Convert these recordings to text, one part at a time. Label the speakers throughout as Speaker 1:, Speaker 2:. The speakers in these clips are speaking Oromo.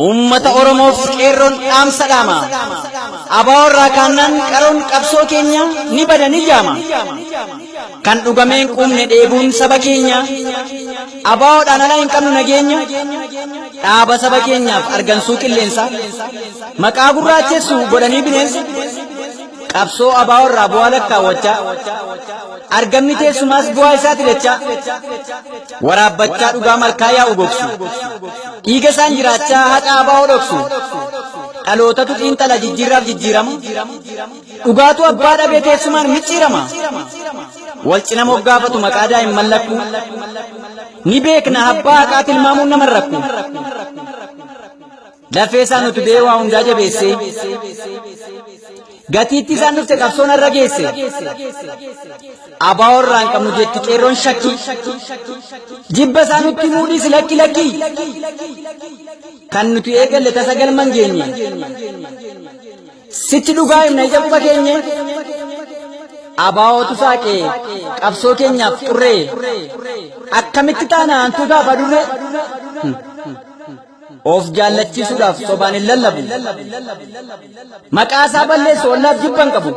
Speaker 1: Uummata Oromoof qeerroon dhaamsa dhaama. Abaa irraa kaannaan qaroon qabsoo keenya ni bada ni jaama. Kan dhugameen quumne dheebuun saba keenya. Abaa'oodhaan ala hin qabnu nageenya. Dhaaba saba keenyaaf argansuu qilleensa. Maqaa gurraachessu godhanii bineensa. Qabsoo abaa'oo irraa bu'aa lakkaawwachaa. Argamni teessumaas bu'aa isaati dachaa. Waraabbachaa dhugaa malkaa yaa'u gogsu. Dhiiga isaan jiraachaa haqa abaa'oo dhoksu. Dhalootatu xiinxala jijjiirraaf jijjiirama. Dhugaatu abbaa dhabee teessumaan micciirama. Wal cina moggaafatu maqaa daa'imman lakkuu. Ni beekna abbaa haqaa tilmaamuun nama rakku. Lafee isaan utubee waa hundaa jabeessee gatiitti isaan dhufte qabsoon irra geesse abaa'oo irraa hin qabnu jetti qeerroon shakkii jibba isaan nutti muudhiis lakki lakki kan nuti eegalle tasa galma hin geenye sitti dhugaa himna ija quba keenye abaa'ootu saaqe qabsoo keenyaaf xurree akkamitti taana hantuutaaf adurree. Of jaallachiisuudhaaf sobaan hin lallabu. Maqaa isaa balleessu ollaaf jibban qabu.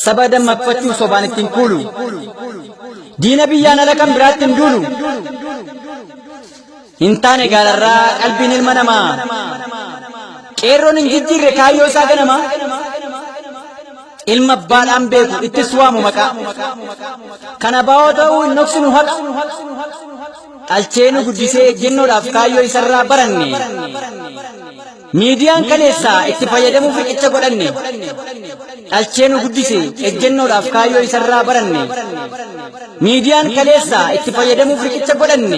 Speaker 1: Saba dammaqfachuu sobaan ittiin kuulu. Diina biyyaan ala kan biraatti hin duulu. Hin taane gaalarraa qalbiin ilma namaa. Qeerroon hin jijjiirre kaayyoo isaa ganama. Ilma abbaadhaan beeku ittis waamu maqaa. Kana baa'oo ta'uu hin dhoksinu haqa. dhalchee nu guddisee ejjennoodhaaf kaayyoo isarraa baranne miidiyaan kaleessaa itti fayyadamuuf riqicha godhanne dhalchee nu guddise ejjennoodhaaf kaayyoo isarraa baranne miidiyaan kaleessaa itti fayyadamuuf riqicha godhanne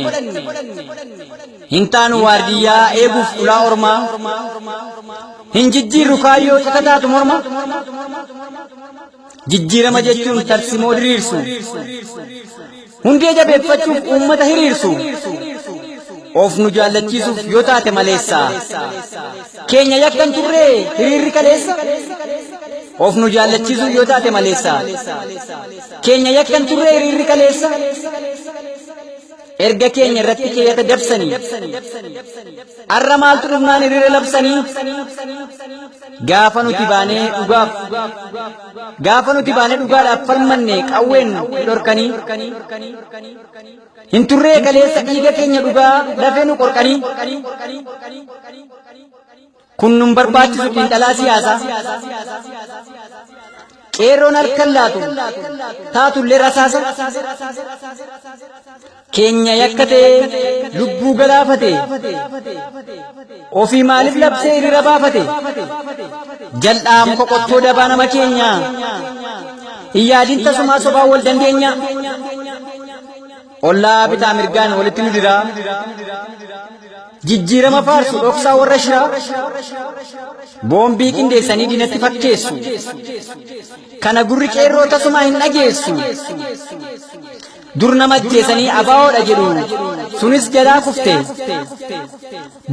Speaker 1: hin taanu waardiyyaa eeguuf ulaa ormaa hin jijjiirru kaayyoo cakataatu morma Jijjiirama jechuun tarsimoo diriirsu. Hundee jabeeffachuuf uummata hiriirsu. Of nu jaallachiisuuf yoo taate maleessa. Keenya yakkan turree hiriirri kaleessa. Of nu jaallachiisuuf yoo taate maleessa. Keenya yakkan turree hiriirri kaleessa. erga keenya irratti keeyyata dabsanii arra maaltu dhufnaan hiriira labsanii gaafa nuti baanee dhugaaf gaafa nuti baanee dhugaadhaaf falmanne qawween dhorkanii hin turree kaleessa dhiiga keenya dhugaa lafee nu qorqanii Kun nun barbaachisu xiinxalaa siyaasaa. Qeerroon harkan laatu taatullee rasaasa. Keenya yakka ta'ee lubbuu galaafate. Ofii maaliif labsee hiriira baafate? Jal'aam qoqqottoo dabaa nama keenya. Hin yaadin tasumaa sobaan wal dandeenya. Ollaa bitaa mirgaan walitti nu diraa. Jijjiirama faarsu dhoksaa warra shiraa. Boombii qindeessanii diinatti fakkeessu. Kana gurri qeerroo tasumaa hin dhageessu. Dur nama ajjeesanii abaawoodha jedhu. Sunis jalaa kufte.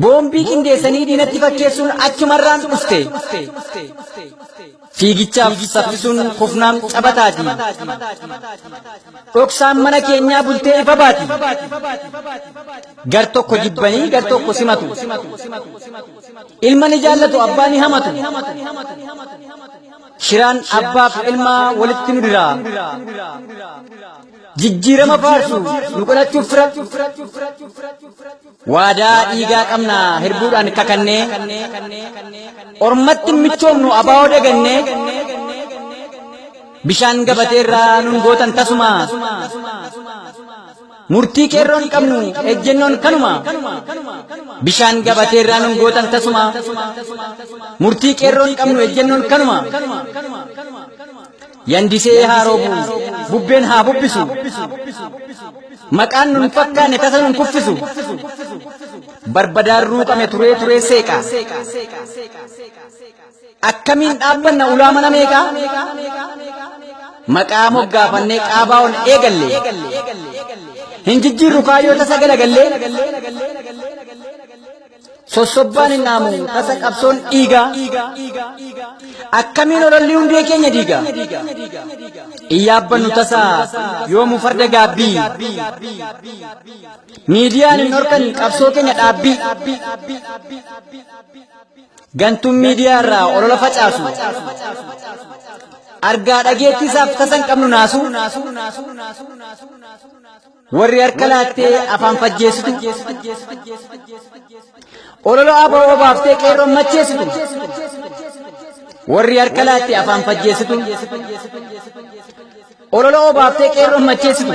Speaker 1: Boombii qindeessanii diinatti fakkeessuun achumarraan dhufte. Fiigichaaf saffisuun kufnaan cabataati. Dhoksaan mana keenyaa bultee ifa baati. Gar tokko jibbanii gar tokko simatu. Ilma ni jaallatu abbaa ni hamatu. Shiraan abbaaf ilmaa walitti nu dira. Jijjiirama faarsu nu godhachuuf fira. Waadaa dhiigaa qabna hirbuudhaan kakannee ormatti michoomnu abaa'oo dagannee bishaan gabatee irraa nun gootan tasuma murtii qeerroon qabnu ejjennoon kanuma bishaan gabatee irraa nun gootan tasuma murtii qeerroon qabnu ejjennoon kanuma Yandisee haa roobu, bubbeen haa bubbisu. Maqaan nun fakkaanne tasa nun kuffisu. Barbadaan ruuqame turee turee seeqa. Akkamiin dhaabbanna ulaa mana meeqa? Maqaa moggaafannee qaabaa ol eegalle. Hin jijjiirru kaayyoo tasa galagallee. sossobbaan hin dhaamu tasa qabsoon dhiiga akkamiin ololli hundee keenya diiga hin yaabbannu tasa yoomu farda gaabbii miidiyaan hin horkan qabsoo keenya dhaabbii gantuun miidiyaa irraa olola facaasu argaa dhageettiisaaf tasa hin qabnu naasu Warri harka laattee afaan fajjeessitu. Ololo aboo obaaftee qeerroon macheessitu. Warri harka laattee afaan fajjeessitu. Ololo obaaftee qeerroon macheessitu.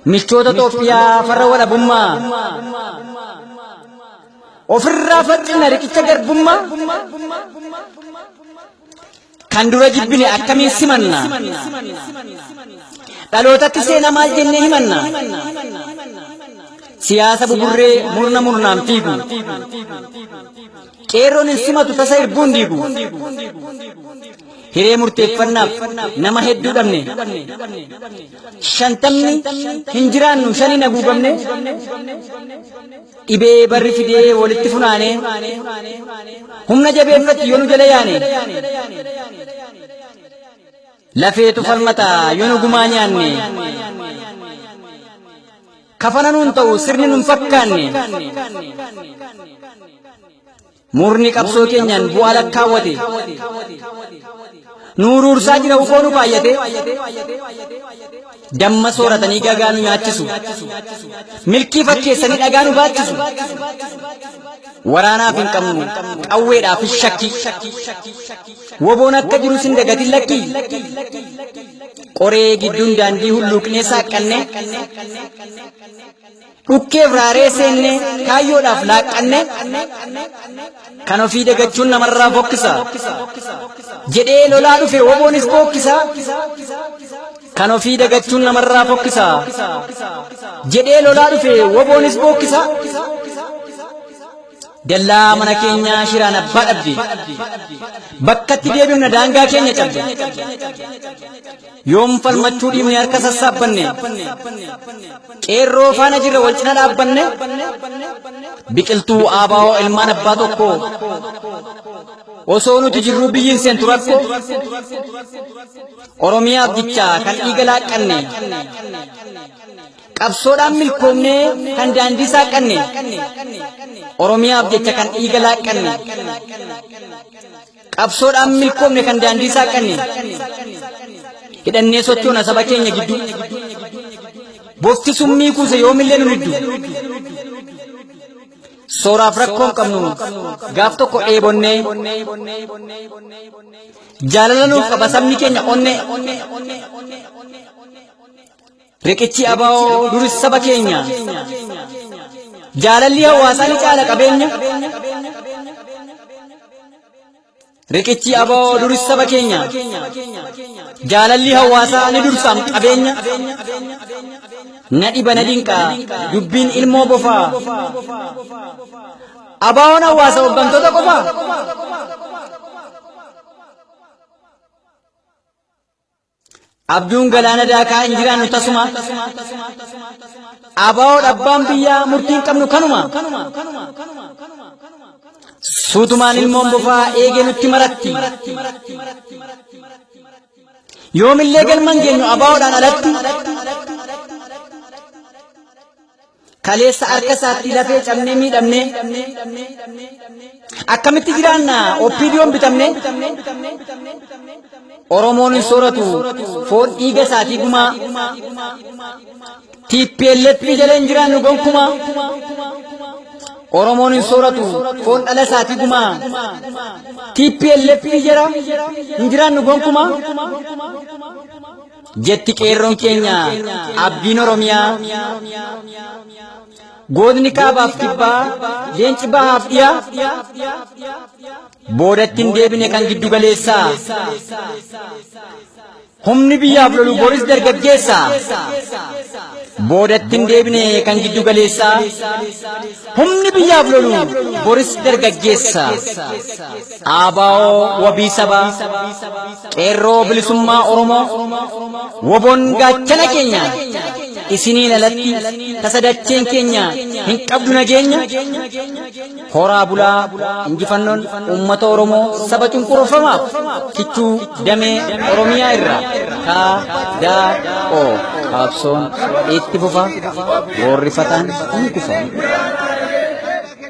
Speaker 1: Michoota Itoophiyaa farra walabummaa. Ofirraa faccina riqicha garbummaa. Kan dura jibbine akkamiin simanna? Dhalootatti seenaa maal jennee himanna? Siyaasa buburree murna murnaan fiigu. Qeerroon hin simatu tasa irbuun diigu. Hiree murteeffannaaf nama hedduu dhabne. Shantamni hin jiraannu shaniin haguugamne. Dhibee barri fidee walitti funaanee humna jabeeffatti yoo nu jala yaane lafeetu falmata yoo nu gumaa nyaanne kafana nuun ta'u sirni nun fakkaanne Murni qabsoo keenyaan bu'aa lakkaawwate nu uruursaa jira ukoo nu baay'ate damma sooratanii gagaa nu nyaachisu milkii fakkeessanii dhagaa nu baachisu waraanaaf hin qabnu qawweedhaaf hin shakki woboon akka jiru sin dagatin lakki qoree gidduun daandii hulluuqnee saaqqanne Dhukkeef raaree seenne kaayyoodhaaf laaqqanne kan ofii dagachuun namarraa fokkisa. Jedhee lolaa dhufe woboonis bookkisa. Kan ofii dagachuun namarraa fokkisa. Jedhee lolaa dhufe woboonis bookkisa. Dallaa mana keenyaa shiraan abbaa dhabde. Bakkatti deebifna daangaa keenya cabde. Yoom falmachuu dhiifne harka sassaabbanne qeerroo faana jirra wal cina dhaabbanne biqiltuu aabaa'oo ilmaan abbaa tokko osoo nuti jirruu biyyiin seentu rakko oromiyaaf jechaa kan dhiiga laaqqanne qabsoodhaan milkoomnee kan daandii saaqqanne oromiyaaf jecha kan dhiiga laaqqanne Qabsoodhaan milkoomne kan daandii saaqanne hidhannee sochoona saba keenya gidduu bofti summii kuuse yoomillee nun iddu sooraaf rakkoon qabnu gaaf tokko dheebonnee jaalala nuuf qaba sabni keenya onnee Riqichi abaa'oo duris saba keenya. Jaalalli hawaasaa ni caala qabeenya. Riqichi abaa'oo duris saba keenya. Jaalalli hawaasaa ni dursaam qabeenya. Na dhiba na dinqa dubbiin ilmoo bofaa. Abaa'oon hawaasa hooggantoota qofaa. Abjuun galaana daakaa hin jiraannu tasuma. Abaa'oo dhabbaan biyyaa murtii hin qabnu kanuma. Suutumaan ilmoon bofaa eegee nutti maratti. Yoomillee galman geenyu abaa'oodhaan alatti. kaleessa harka isaatti lafee cabnee miidhamne akkamitti jiraanna oppiidiyoon bitamne oromoon hin sooratu foon dhiiga isaatii gumaa tplf jala hin jiraannu gonkumaa oromoon hin sooratu foon dhala isaatii gumaa tplf jala hin jiraannu gonkumaa jetti qeerroon keenya abdiin oromiyaa gootni kaabaaf kibbaa leenci bahaaf dhiyaa boodatti hin deebine kan giddu galeessaa humni biyyaaf lolu boris dargaggeessa boodatti hin deebine kan giddu galeessaa humni biyyaaf lolu boris dargaggeessa Dhaabaa'oo wabii sabaa qeerroo bilisummaa Oromoo woboon gaachana keenya isiniin alatti tasadacheen keenya hin qabdu nageenya horaa bulaa injifannoon uummata Oromoo saba cunqurfamaaf kichuu damee Oromiyaa irraa kaa daa oo qabsoon itti fufa goorrifataan ni kufa.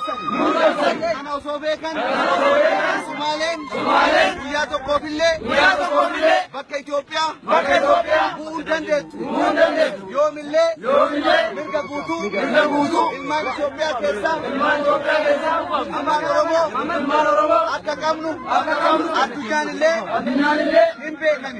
Speaker 2: Kana osoo beekan Sumaaleen guyyaa tokkoofillee bakka Itoophiyaa bu'uu dandeettu. Yoomillee mirga guutuu ilmaan Itoophiyaa keessaa ilmaan Oromoo akka qabnu addunyaan illee hin beekani.